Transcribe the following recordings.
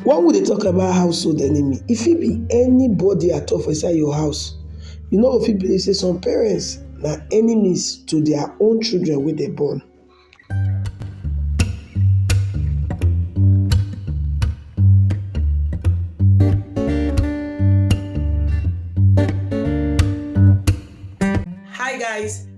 Wen we dey talk about household enemy, e fit be anybody at all for inside your house. You no go fit believe sey some parents na enemies to their own children wey dem born. Hi guys!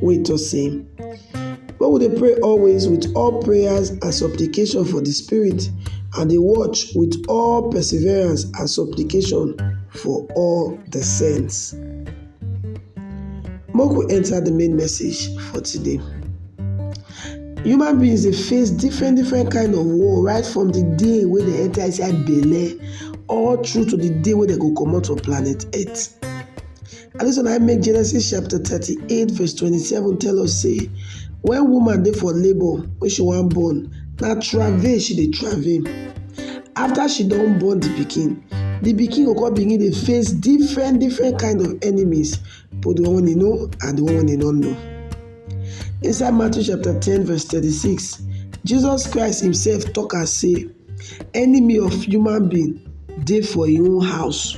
wey tok sey, Make we dey pray always wit all prayers and supplication for di Spirit, and dey watch wit all perseverance and supplication for all di saints. Make we enta di main message for today. Human beings dey face different different kain of war right from di day wey dem enta inside belle all through to di day wey dem go comot for planet earth. Na dis one na im make Genesis chapter thirty-eight verse twenty-seven tell us sey when woman dey for labour wey she wan born, na travail she dey travail. After she don born the pikin, the pikin go come begin dey face different different kind of enemies, both the one wey e know and the one wey e no know. Inside Matthew chapter ten verse thirty-six, Jesus Christ himself talk am sey Enemy of human being dey for im own house.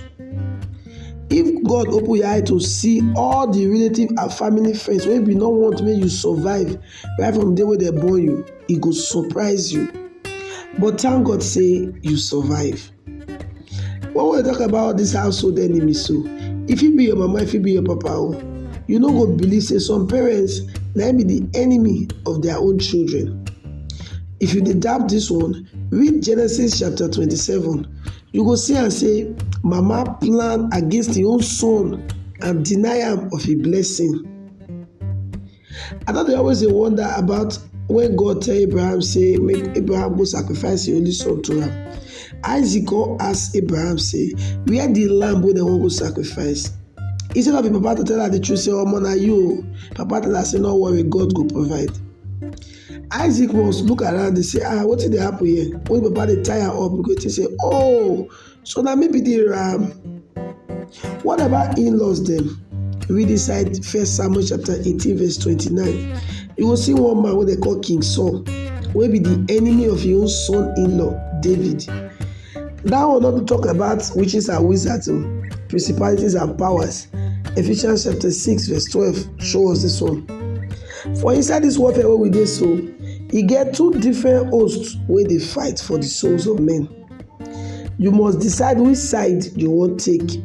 If God open your eye to see all the relative and family friends wey be no want make you survive right from the day wey dem born you, e go surprise you. But thank God sey you survive. When we talk about all dis household enemy so, e fit be your mama, e fit be your papa o. You no go believe sey some parents na im be the enemy of their own children. If you dey doubt dis one, read Genesis chapter twenty-seven. You go see am sey mama plan against im own son and deny am of im blessing. I don dey always dey wonder about when God tell Abraham say make Abraham go sacrifice him only son to am. Isaac come ask Abraham say where the lamb wey dem wan go sacrifice? Instead of him papa to tell am the truth say omo na you o, papa tell am say no worry God go provide. Isaac must look around dey say ah wetin dey happen here? When papa dey tie am up, he go think say oh so na me be the ram what about in-laws dem read inside first samuel chapter eighteen verse twenty-nine you go see one man wey dem call king saul wey be the enemy of him own son in-law david that one no be talk about witches and wizards o principalities and powers ephesians chapter six verse twelve show us this one for inside this warfare wey we dey so e get two different hosts wey dey fight for the souls of men You must decide which side you wan take,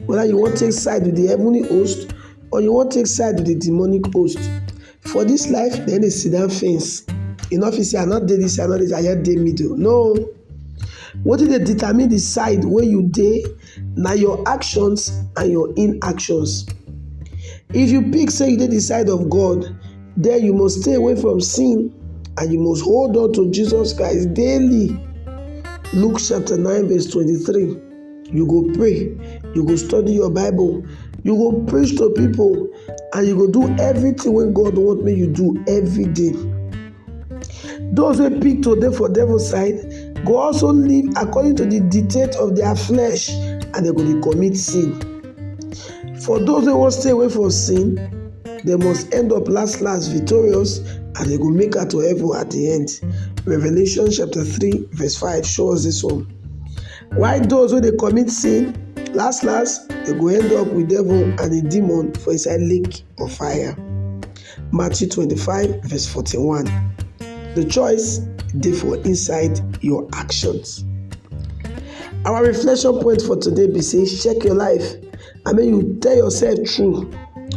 whether you wan take side with the heavenly host or you wan take side with the demonic host. For this life, dem dey sit down fence. You no fit say I no dey this side, I no dey this side, I just dey middle. No. Wetin dey determine the side wey you dey Na your actions and your inactions. If you pick say you dey the side of God, then you must stay away from sin and you must hold on to Jesus Christ daily. Luke chapter 9 verse 23. You go pray, you go study your Bible, you go preach to people and you go do everything wey God want make you do every day. Those who pick to dey for devil side go also live according to the dictate of their flesh and they go dey commit sin. For those who wan stay away from sin, they must end up last last victorious and they go make out to heaven at the end. Revelation chapter 3 verse 5 show us this one. Why those who they commit sin, last last, they go end up with devil and a demon for inside lake of fire. Matthew 25, verse 41. The choice dey for inside your actions. Our reflection point for today be say check your life I mean, you tell yourself true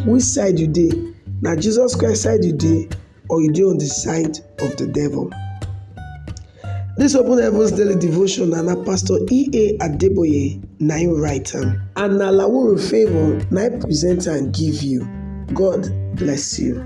which side you dey na Jesus Christ side you dey or you dey on the side of the devil. This Open Heavens Daily Devotion na na Pastor E.A. Adeboye na im write am and na Lawuru Favour na im present am give you. God bless you.